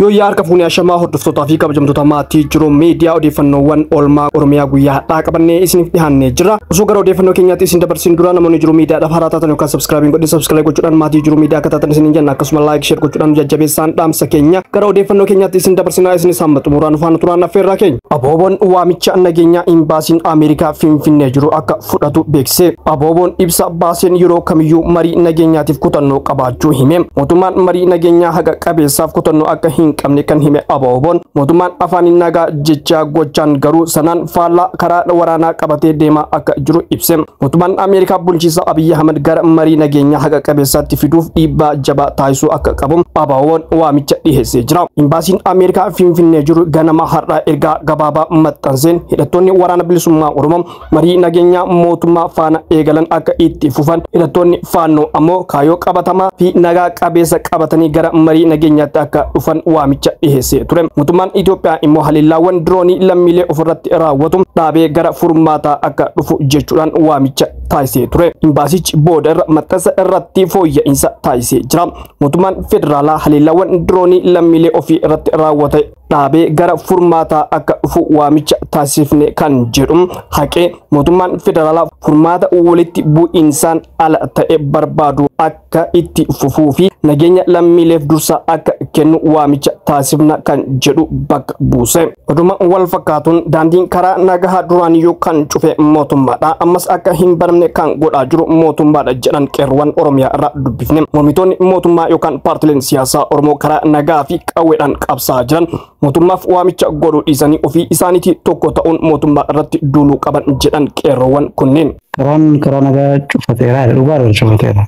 Yooyyaa harka fuunee ashamaa hordoftootaa fi kabajamtoota maatii jiruu miidiyaa odeeffannoowwan oolmaa Oromiyaa guyyaa har'aa qabannee isiniif dhiyaannee jira. Osoo gara odeeffannoo keenyaatti isin dabarsiin dura namoonni jiruu miidiyaadhaaf haaraa taatan yookaan sabskraabiin godhe sabskraabii gochuudhaan maatii jiruu miidiyaa akka taatan isiniin jenna akkasuma laayik sheer gochuudhaan nu jajjabeessaan dhaamsa keenya gara odeeffannoo keenyaatti isin dabarsinaa isinis hamma xumuraan nu faana turaan affeerraa keenya. Abooboon waamicha nageenyaa imbaasiin Ameerikaa Finfinnee jiru akka fudhatu beeksise. Abooboon ibsa baaseen yeroo kamiyyuu marii nageenyaatiif kutannoo qabaachuu hime. Mootummaan marii nageenyaa haqa qabeessaaf kutannoo akka hin qabne kan hime Abooboon mootummaan afaaniin nagaa jechaa gochaan garuu sanaan faallaa karaa waraanaa qabatee deemaa akka jiru ibse. Mootummaan Ameerikaa bulchiinsa Abiy Ahmed gara marii nageenyaa haqa qabeessaatti fiduuf dhiibbaa jabaa taasisuu akka qabu Abooboon waamicha dhiheessee jira. Imbaasiin Ameerikaa Finfinnee jiru ganama har'aa ergaa gabaabaa maxxanseen hidhattoonni waraana bilisummaa Oromoo marii nageenyaa mootummaa faana eegalan akka itti fufan hidhattoonni faannoo ammoo kaayoo qabatamaa fi nagaa qabeessa qabatanii gara marii nageenyaatti akka dhufan waamicha dhiheessee ture mootummaan Itoophiyaa immoo haleellaawwan diroonii lammiilee ofirratti raawwatu dhaabee gara furmaataa akka dhufu jechuudhaan waamicha taasisee ture imbaasichi booda irra maxxansa irratti fooyya'insa taasisee jira mootummaan federaalaa haleellaawwan diroonii lammiilee ofii irratti raawwate dhaabee gara furmaataa akka dhufu waamicha taasifne kan jedhu haqee mootummaan federaalaa furmaata walitti bu'iinsaan ala ta'e barbaadu akka itti fufuu fi nageenya lammiileef dursa akka kennu waamicha taasifna kan jedhu bakka buuse. Oduma wal fakkaatuun daandiin karaa nagahaa duraaniyyuu kan cufe mootummaadha. Ammas akka hin banamne kan godhaa jiru mootummaadha jedhan qeerroowwan Oromiyaa irraa dubbifne. Mormitoonni mootummaa yookaan paartileen siyaasaa Oromoo karaa nagaa fi qawweedhaan qabsaa jiran mootummaaf waamicha godhuu dhiisanii ofii isaaniitii tokko ta'uun mootummaa irratti duuluu qaban jedhan qeerroowwan kunneen. Karaan karaa nagaa cufateera dhugaa dha cufateera.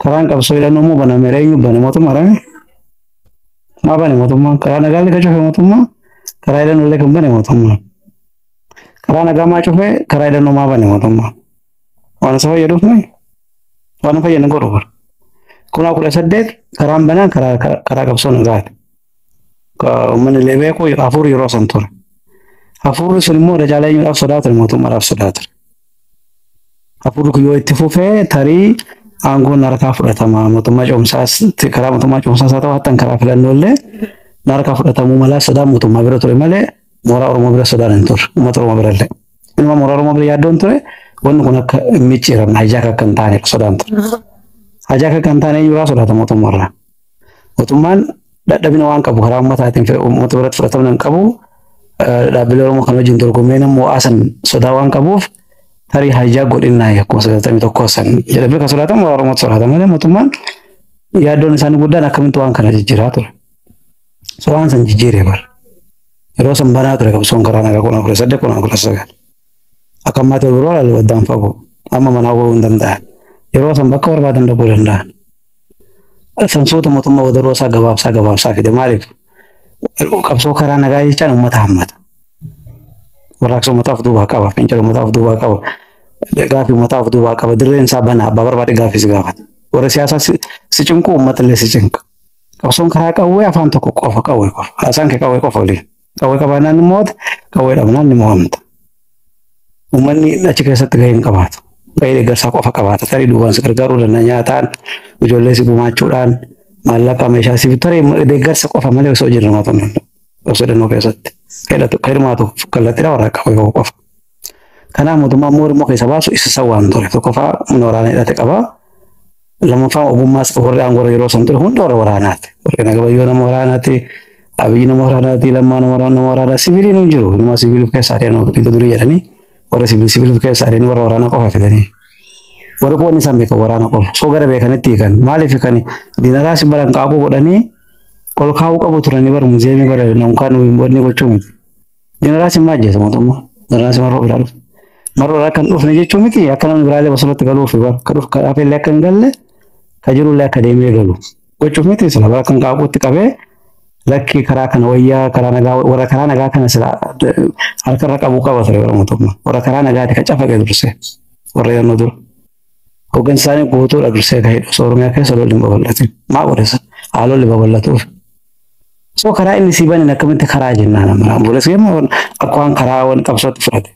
Karaan qabsoo hidhannoo immoo banameera eenyu bane mootummaa dha. Maa bane mootummaa karaa nagaa illee kan cufe mootummaa karaa hidhannoo illee kan bane mootummaa. Karaa nagaa maa cufe karaa hidhannoo maa bane mootummaa. Waan isa fayyaduuf malee waan hin fayyadne godhu bara. Kunaa kudha saddeet karaan banaan karaa karaa qabsoo nagaati. Uummanni illee beeku hafuurri yeroo san ture. Hafuurri sun immoo irra caalaa eenyuudhaaf sodaa ture mootummaadhaaf sodaa ture. Hafuurri kun yoo itti fufee tarii aangoon harkaa fudhatama mootummaa cimsaas karaa mootummaa cimsaas haa ta'u hattan karaa filannoo illee harkaa fudhatamuu malaa sodaa mootummaa bira ture malee Mooraa Oromoo bira sodaan hin turre. Uummata Oromoo bira illee. Inuma mooraa Oromoo bira yaaddoon ture wanni kun akka hin micciiramne hajaaka akka hin taane sodaan ture. Hajaaka akka hin taane eenyurraa sodaata mootummaarraa. Mootummaan dadhabina waan qabu karaa uummataatiin uummata biratti fudhatamna hin qabu. Dhaabbilee Oromoo kan wajjin dorgommee nama mo'aasan sodaa waan qabuuf tarii hajaa godhinnaa akkuma sagaltamii tokkoo san jedhamee kan sodaatamu mooraa Oromootti sodaata malee mootummaan yaaddoon isaanii guddaan akkamitti waan kana jijjiiraa ture. Suuraan san jijjiiree bar. Yeroo san banaa ture qabsoon karaa nagaa kudhan kudha saddeet kudhan kudha sagal. Akka ammaa ta'e biroo laalu addaan fagoo. Amma manaa bahuu hin danda'an. Yeroo san bakka barbaadan dhaquu danda'an. Sansuuta mootummaa wadaroo isaa gabaabsaa gabaabsaa fide maaliif? Qabsoo karaa nagaa jechaan uummata hammata. Warraaqsa uummataaf duubaa qaba. Fincila uummataaf duubaa qaba. Gaaffii uummataaf duubaa qaba. Dirreen isaa banaa abbaa barbaade gaaffiis gaafata. Warri siyaasaa si cinqu uummatallee si cinqa. Qabsoon karaa qawwee afaan tokko qofa qawwee qofa. Haasaan kee qawwee qofa waliin. Qawwee qabaannaan ni mo'ata, qawwee dhabnaan ni mo'amta. Uummanni achi keessatti gahee hin qabaatu. Gahee deeggarsaa qofa qabaata. Tarii duubaan si gargaaruu danda'a nyaataan, ijoollee si gumaachuudhaan, maallaqa meeshaa si bitu. Tarii deeggarsa qofa malee osoo hojii hirmaatu hin danda'u. Qabsoo hidhannoo keessatti. Ka hidhatu- ka hirmaatu kallattiidha warra qawwee qofa. Kanaaf mootummaan immoo Oromoo keessa baasu isa isa waan ture. Tokkoffaa humna waraanaa hidhate qaba. Lammaffaa ogummaas warri aangoo yeroo san ture hunda warra waraanaati. Warri nagabayyoo nama waraanaati. Abiyyi nama waraanaati. Lammaa nama waraanaa nama waraanaa. Siviiliin hin jiru. Nama siviilii of keessaa ta'e nama dhibba durii jedhanii warra siviil siviilii of keessaa ta'e warra waraanaa qofa fidanii. Warri qoonni isaan beekan waraana qofa. Soo gara beekanitti hiikan. Maaliif hiikani? Diinaraa si baran qaaquu godhanii ol kaa'uu qabu turanii bara muzeemii bara namkaan wanni gochuu miti. Jeneraal Simmaa ajjeese mootummaa. Jeneraal Simmaa Roob ilaaluuf. Marroodha akka hin dhufne jechuu miti akka namni biraallee bosonatti galuuf akka dhufu akka dhaabellee akka hin galle ka jirullee akka deemee galu. Gochuuf miti sila bara kan qaaquutti qabee lakki karaa kana wayyaa karaa nagaa warra karaa nagaa kana sila harkarra qabuu qaba ture bara mootummaa. Warra karaa nagaati ka cafaqe durse warra yeroo dura. Hoggansi isaanii guutuudha dursee ka'ee osoo Oromiyaa keessa lolli hin babal'atin. Maa godhesa? Haa lolli babal'atuuf. So karaa inni sii banen akkamitti karaa jennaan amma obboleessi keenya wan- akka waan karaa waan qabsootti fudhate.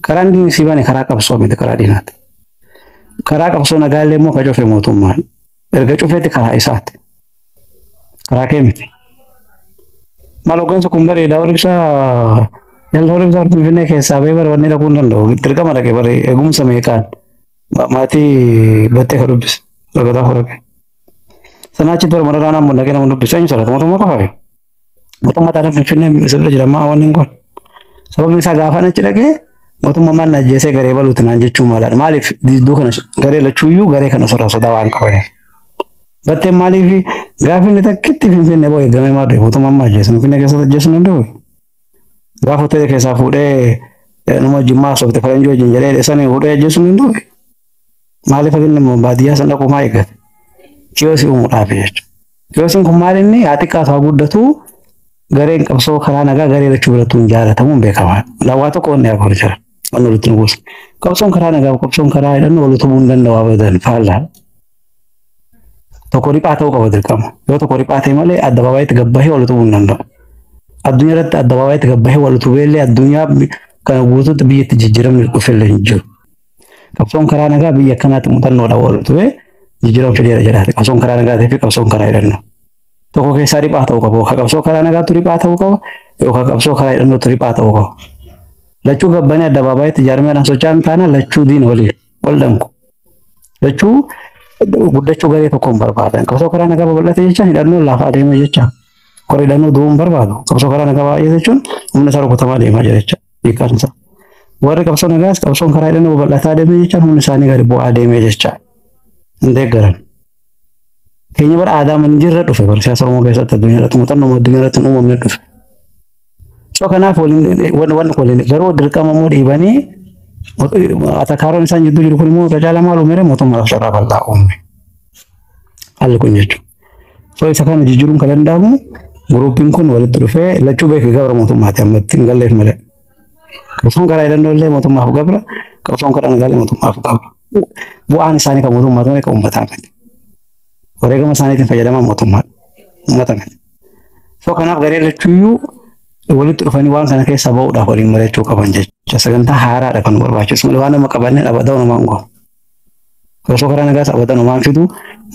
Karaa inni sii bane karaa qabsoo miti karaa diinaati. Karaa qabsoo nagaa illee immoo ka cufe mootummaan. Erga cufeeti karaa isaati. Karaa kee miti. Maal hoggansa kun bareeda warri ibsaa yalla warri ibsaa Finfinnee keessaa ba'ee bara wanni dhaquu hin danda'u. Dirqama dhaqe bara eegumsa meeqaan ma- maatii battee ka dubbise. Lagataa fudhate. Sanaa achitti bara mararaa naammoo dhaqee nama dubbise. Eenyu sarara mootummaa qofaayyu. Mootummaa taatee Finfinnee sirra jira maa wanni kun. Sababni isaa gaafa achi dhaqee mootummaa maal na ajjeesee garee baluuti naan jechuu maalaadha. Maaliif didduu kana garee lachuuyyuu garee kana sirra sodaa waan qabaniif. Battee maaliif gaafa inni takkitti Finfinnee boo eegamee maal ta'e mootummaan maal ajjeesu Finfinnee keessatti ajjeesuu hin danda'u. Gaafa hoteela keessaa fuudhee nama jimmaa sobte faranjii wajjin jedhee dheessanii fuudhee ajjeesuu hin danda'u. Maaliif inni immoo baadiyyaa sana dhaquu maa eeggate? Kiyoosii uumuudhaaf jechuudha. Kiyoosiin kun maal inni haa xiqqaatu haa guddatu gareen qabsoo karaa nagaa garee lachuu birattuu hin jaalatamu hin beekamaa. Waa tokko wanni afur jira. Wanni walitti hin buusu. Qabsoon karaa nagaa qabsoon karaa hidhannoo wal utubuu hin danda'u abadan faallaa. Tokko riphaa ta'uu qaba dirqama. Yoo tokko riphaa ta'e malee addabaabayitti gabbahee wal utubuu hin danda'u. Addunyaa irratti addabaabayitti gabbahee wal utubee illee addunyaa kana guutuutti biyyatti jijjiiramni dhufe illee hin jiru. Qabsoon karaa nagaa biyya akkanaatti muuxannoodhaan wal ture jijjiirama fideera jedhaate. Qabsoon karaa nagaatii fi qabsoon karaa hidhannoo. Tokko keessaa riphaa ta'uu qabu. Yookaan qabsoo karaa nagaatu riphaa ta'uu qaba. Yookaan qabsoo karaa hidhannootu riphaa ta'uu qaba. Lachuu gabbanii addabaabaayatti jaarmeedhaan socho'an taana lachuu diina waliin wal danqu. Lachuu guddachuu garee tokko hin barbaadan. Qabsoo karaa nagaa babal'ate jecha hidhannoo lafa adeema jecha. Kora hidhannoo du'uu hin barbaadu. Qabsoo karaa nagaa baay'ee jechuun humna isaa rukutamaa deemaa jira jecha. beekamsa. Warri qabsoo nagaas qabsoon karaa hidhannoo babal'ataa deemee jecha humni isaanii gadi bu'aa deemee jecha hin deeggaran. Keenya bara aadaa hin jirre dhufe bara siyaasa Oromoo keessatti addunyaa irratti muuxannoo addunyaa irratti hin uumamne dhufe. So kanaaf wanni waliin garuu dirqama immoo dhiibanii atakaaroon isaan jidduu jiru kun immoo irra caalaa maal uumere mootummaadhaaf carraa bal'aa uume. Haalli kun jechuudha. So isa kana jijjiiruun kan danda'amu guruupiin kun walitti dhufee lachuu beekee gabra mootummaati amma ittiin galleef malee. Qabsoon karaa hidhannoo illee mootummaaf gabra, qabsoon karaa nagaa illee mootummaaf gabra. Bu'aan isaanii kan mootummaa ta'e kan uummataa miti. Wareegama isaaniitiin fayyadamaa mootummaa uummata miti. So kanaaf garee lachuuyyuu walitti dhufanii waan kana keessaa ba'uudhaaf waliin mari'achuu qaban jechuudha. Sagantaa haaraadha kan barbaachisu malee waan nama qabannee dhabada'u nama hin goonu. Osoo karaa nagaa taphatan homaan fidu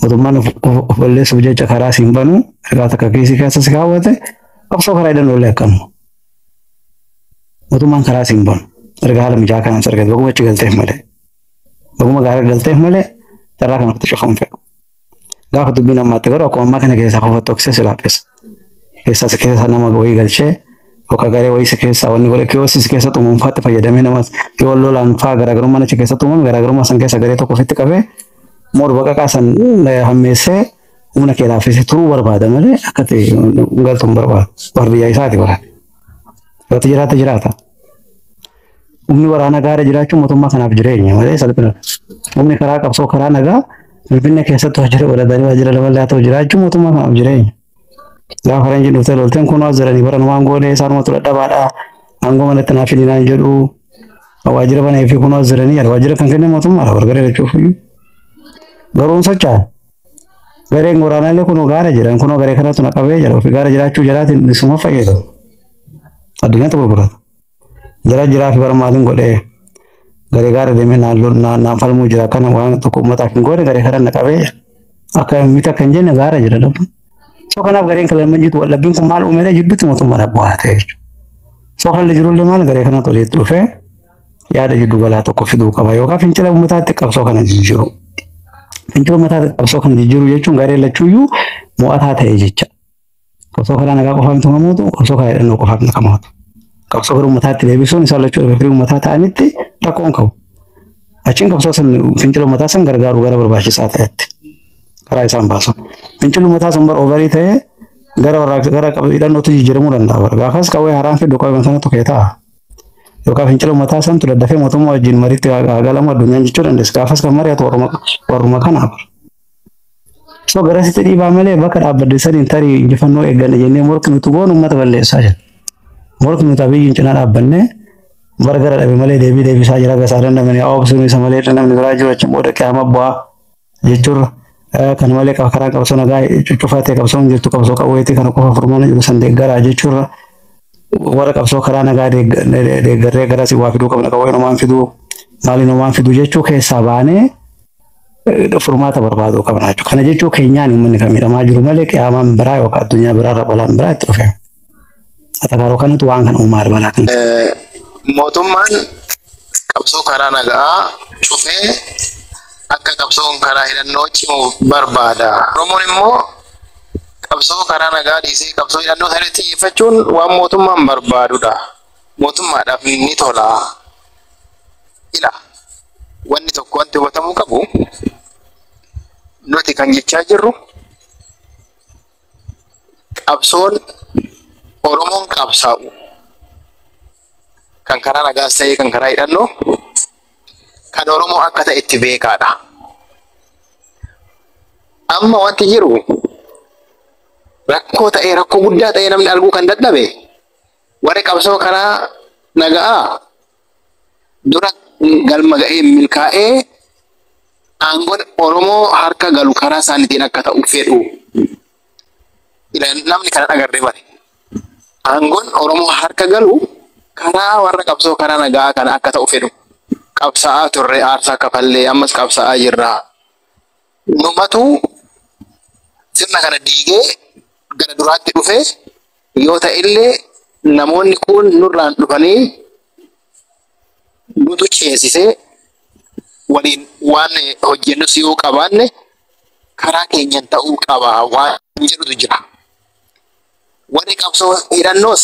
mootummaan of of balleessuuf jecha karaa siin banu ergaa takka kiisii keessa si kaawwate osoo karaa hidhan oollee akkam mootummaan karaa siin banu erga haala mijaa kanaan si argate baguma achi galteef malee baguma gaara galteef malee carraa kana kutu cufa hin fedhu. Gaafa dubbiin ammaatti garuu akkuma ammaa kana keessaa qofa tokkosee si laaffisa. Keessaa si keessa nama wayii galchee yookaan garee wayii si keessa wanni godhe kiyoosi si keessa xumuunfaatti fayyadamee nama yoo lolaan faa garaagarummaa achi keessa xumuun garaagarummaa san keessa garee tokko ofitti qabee morba qaqaa san hammeessee humna kee laaffisee turuu barbaada malee akkatti galtu hin barbaadu. Barbiyyaa isaati bara. Irratti jiraata jiraata. Humni waraanaa gaara jiraachuun mootummaa kanaaf jireenya malee salphina. Humni karaa qabsoo karaa nagaa Finfinnee keessatti hojjeta godhatanii waajjira lafa laatoo jiraachuun mootummaa kanaaf jireenya. Gaafa faranjiin dhuftee lolteen kun as jiranii baran waan goone isaanumatu dadhabaadha. Aangoo manatti naaf fidii naan jedhu. Waajjira banee fi kun as jiranii jedha. Waajjira kan kenne mootummaadha wargaree jechuuf. Garuu hin socho'an. Gareen waraanaallee kunoo gaara jedhan kunoo garee kanatu na qabee jedha ofii gaara jiraachuu jalaatiin bilisummaa fayyadamu. Addunyaatti gurgurata. Jara jiraa fi barmaatiin godhee garee gaara deemee naan lol- naan naan falmuu jira kana waan tokko uummataaf hin goone garee kana na qabee jedha. Akka miti akka hin jenne gaara jedha dhabdu. So kanaaf gareen kan lamman jitu wallabbiin kun maal uumee jidduu mootummaa dhabbu haa ta'e jechuudha. So kan illee jirullee maal garee kanatu walitti dhufee yaada jiddu galaa tokko fiduu qaba yookaan fincila uummataatti qabsoo kana jijjiiru. Fincila uummataatti qabsoo kana jijjiiru jechuun garee lachuuyyuu mo'ataa ta'e jecha. Qabsoo karaa nagaa qofaa miti kan mootu, qabsoo karaa hidhannoo qofaa miti kan mootu. Qabsoo gara uummataatti deebisuun isaan lachuu irra firii uummataa ta'anitti rakkoon qabu. Achiin qabsoo san fincila uummataa san gargaaru gara barbaachisaa ta'etti karaa isaan baasu. Fincilli uummataa sun bara obarii ta'ee gara warraaqsa gara hidhannootti jijjiiramuu danda'a. Gaafas qawwee haraan fiddu qawwee sana tokkee ta'a. yookaan fincila uummataa santu daddafee mootummaa wajjin mariitti haa galamu addunyaan jechuu dandeessu. Gaafas kan mari'atu warruma kanaaf. So garasitti dhiibaa malee bakka dhaabbadde saniin tarii injifannoo eegganna jennee morki nuti goon uummata balleessaa jira. Morki nuti abiyyiin cinaa dhaabbannee bara gara dhabe malee deebii deebisaa jira gasaa dandamanii haa obsuun isa malee namni biraa jiru achi booda qiyama bu'aa. jechuurra kan malee karaa qabsoo nagaa cuccufaa ta'e qabsoo hin jirtu qabsoo qawweetii kana qofa furmaana jiru san deeggaraa jechuurra warra qabsoo karaa nagaa deeggarree garas waa fiduu qabna qawween homaan fiduu maaliin homaan fiduu jechuu keessaa baanee furmaata barbaaduu qabna jechuudha. Kana jechuu keenyaan uummanni kan miidhamaa jiru malee qiyaamaan biraa yookaan addunyaa biraa irra balaan biraa itti dhufeera. Atabaroo kanatu waan kan uumaa dabalaa kan. Mootummaan qabsoo karaa nagaa cufee akka qabsoon karaa hidhannoo cimu barbaada. Oromoon immoo qabsoo karaa nagaa dhiisee qabsoo hidhannoo sana xiyyeeffachuun waan mootummaan barbaadudha. Mootummaadhaaf ni tola. Ila wanni tokko wanti hubatamuu qabu nuti kan jechaa jirru qabsoon Oromoon qabsaa'u kan karaa nagaas ta'ee kan karaa hidhannoo kan Oromoo akka ta'e itti beekaadha. Amma wanti jiru rakkoo ta'ee rakkoo guddaa ta'ee namni arguu kan dadhabe warri qabsoo karaa nagaa dura galma ga'ee milkaa'ee aangoon Oromoo harka galu karaa isaaniitiin akka ta'u fedhu. Namni kana dhagarree bari. Aangoon Oromoo harka galu karaa warra qabsoo karaa nagaa kana akka ta'u fedhu. Qabsaa'aa turre aarsaa kafallee ammas qabsaa'aa jirra. Numatu sirna kana diigee gara duraatti dhufee Yoo ta'ellee namoonni kuun nurraan dhufanii nutu ceesisee waliin waan hojjennus yoo qabaanne karaa keenyan ta'uu qaba waan jedhutu jira. Warri qabsoo hidhannoos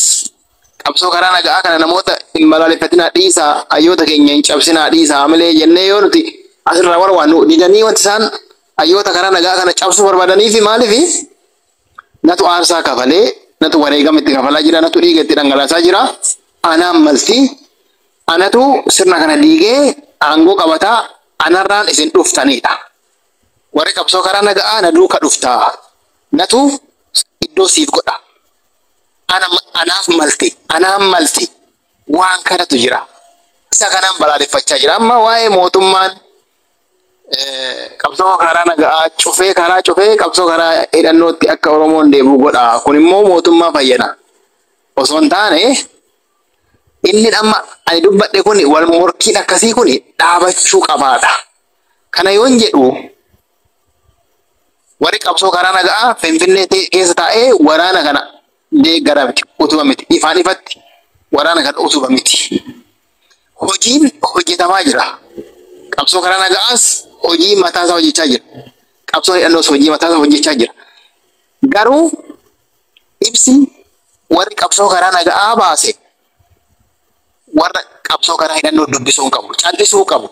qabsoo karaa naga'aa kana namoota hin balaaleffatinaa dhiisaa hayyoota keenya hin cabsinaa dhiisaa hamilee jennee yoo nuti asirraa warwaannu didanii wanti isaan hayyoota karaa naga'aa kana cabsuu barbaadaniifi maaliifi Natu aarsaa kafale, natu wareegama itti kafalaa jira, natu dhiiga itti dhangalaasaa jira. Anaan malti, anatu sirna kana diigee aangoo qabata, anarraan isin dhuftanidha. Warri qabsoo karaa naga'aa na duuka dhufta, natu iddoo siif godha. Ana, anaaf malti, anaan malti waan kanatu jira. Isa kanaan balaaleffachaa jira. Amma waa'ee mootummaan qabsoo karaa nagaa cufee karaa cufee qabsoo karaa hidhannootti akka Oromoon deebi'u godha. Kun immoo mootummaa fayyada. Osoo hin taane inni amma ani dubbadhe kun wal morkiin akkasii kun dhaabachuu qabaadha. Kana yoon jedhu warri qabsoo karaa nagaa Finfinnee ta'e keessa taa'ee waraana kana deeggara miti utuma miti ifaan ifatti waraana kana utuba miti. hojiin hojjetamaa jira. Qabsoo karaa nagaas hojii mataa isaa hojjechaa jira. Qabsoon hidhannoos hojii mataa isaa hojjechaa jira. Garuu ibsi warri qabsoo karaa nagaa baase warra qabsoo karaa hidhannoo dubbisuu hin qabu. Callisuu qabu.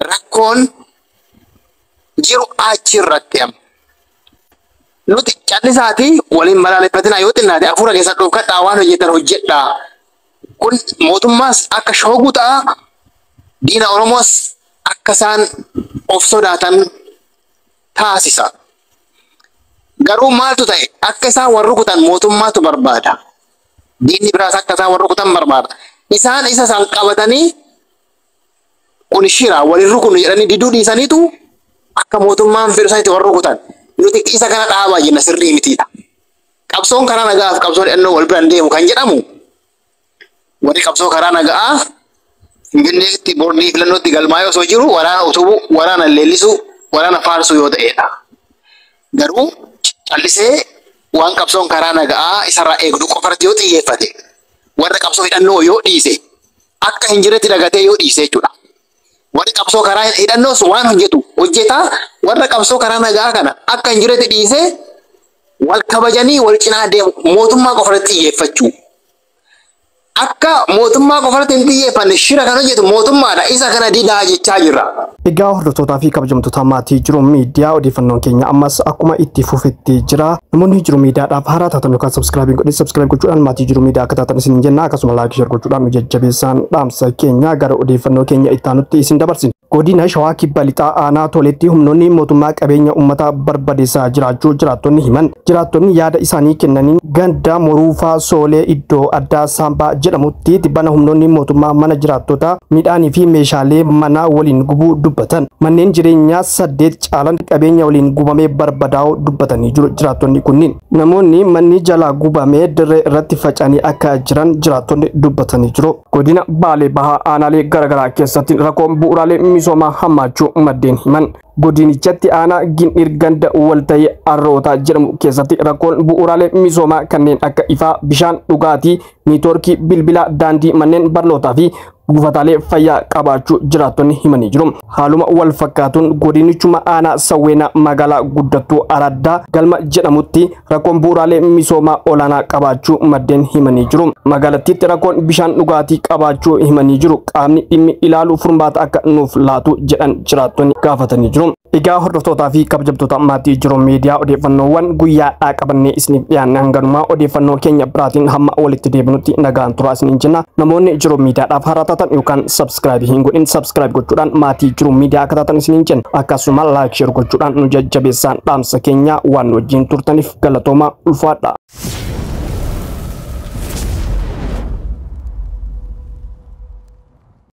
Rakkoon jiru achi irratti amma. Nuti callisaatii waliin balaaleffatinaa yoo xinnaate hafuura keessa dhoofkadhaa waan hojjetan hojjedhaa. Kun mootummaas akka shoogu ta'a, diina Oromoos akka isaan of sodaatan taasisa. Garuu maaltu ta'e? Akka isaan wal rukutan mootummaatu barbaada. Diinni biraas akka isaan wal rukutan barbaada. Isaan isa san qabatanii kun shira walin rukunnu jedhanii diduu dhiisaniitu akka mootummaan fedhu sanitti wal rukutan. Nuti isa kana dhaabaa jenna sirrii mitiidha. Qabsoon karaa nagaa fi qabsoon hidhannoo wal biraan deemu kan jedhamu warri qabsoo karaa nagaa Finfinneetti boordii filannootti galmaa'ee osoo jiru waraana utubuu, waraana leellisuu, waraana faarsuu yoo ta'edha. Garuu callisee waan qabsoon karaa nagaa isarraa eegdu qofarratti yoo xiyyeeffate warra qabsoo hidhannoo yoo dhiise akka hin jirretti dagatee yoo dhiise jechuudha. Warri qabsoo karaa hidhannoos waan hojjetu hojjetaa warra qabsoo karaa nagaa kana akka hin jiretti dhiisee wal kabajanii wal cinaa deemu mootummaa qofa irratti xiyyeeffachuu. Akka mootummaa qofa irratti hin xiyyeeffanne shira kan hojjetu mootummaadha isa kana didaa jechaa jirra. Egaa hordoftootaa fi kabajamtoota maatii jiru miidiyaa odeeffannoon keenya ammas akkuma itti fufetti jira. Namoonni jiru miidiyaadhaaf haaraa taatan yookaan sabskiraabii godhin sabskiraab gochuudhaan maatii jiru miidiyaa akka taatan isin jenna akkasuma laayik sheer gochuudhaan nu jajjabeessaan dhaamsa keenya gara odeeffannoo keenya itti aanutti isin dabarsina. Godina Shawaa Kibba Lixaa Aanaa Toleetti humnoonni mootummaa qabeenya uummataa barbadeessaa jiraachuu jiraattonni himan. Jiraattonni yaada isaanii kennaniin ganda Moruufaa Soolee iddoo addaa Saambaa jedhamutti tibbana humnoonni mootummaa mana jiraattotaa midhaanii fi meeshaalee manaa waliin gubuu dubbatan. Manneen jireenyaa saddeet caalan qabeenya waliin gubamee barbadaa'uu dubbatanii jiru jiraattonni kunniin. Namoonni manni jalaa gubamee dirree irratti faca'anii akka jiran jiraattonni dubbatanii jiru. Godina Baalee Bahaa aanaalee garaagaraa keessatti rakkoon bu'uuraalee misoomaa hammaachuu maddeen himan. Godinichatti aanaa Gindhiir ganda walta'ii Arrootaa jedhamu keessatti rakkoon bu'uuraalee misoomaa kanneen akka ifaa, bishaan dhugaatii, neetwoorkii bilbilaa, daandii, manneen barnootaa fi buufataalee fayyaa qabaachuu jiraattonni himanii jiru. Haaluma wal fakkaatuun godinichuma aanaa Sawweenaa magaalaa guddattuu Araddaa Galma jedhamutti rakkoon bu'uuraalee misoomaa olaanaa qabaachuu maddeen himanii jiru. Magaalattiitti rakkoon bishaan dhugaatii qabaachuu himanii jiru. Qaamni dhimmi ilaalu furmaata akka nuuf laatu jedhan jiraattonni gaafatanii jiru. Egaa hordoftootaa fi kabajamtoota maatii jiru miidiyaa odeeffannoowwan guyyaadhaa qabannee isiniif dhiyaanne hanganumaa odeeffannoo keenya biraatiin hamma walitti deebinutti nagaan turaa isiniin jenna. Namoonni jiru miidiyaadhaaf haaraa taatan yookaan sabskiraayibii hin godhin sabskiraayib gochuudhaan maatii jiru miidiyaa akka taatan isiniin jenna. Akkasuma laayik sheer gochuudhaan nu jajjabeessaan dhaamsa keenya waan nu wajjin turtaniif galatoomaa ulfaadha.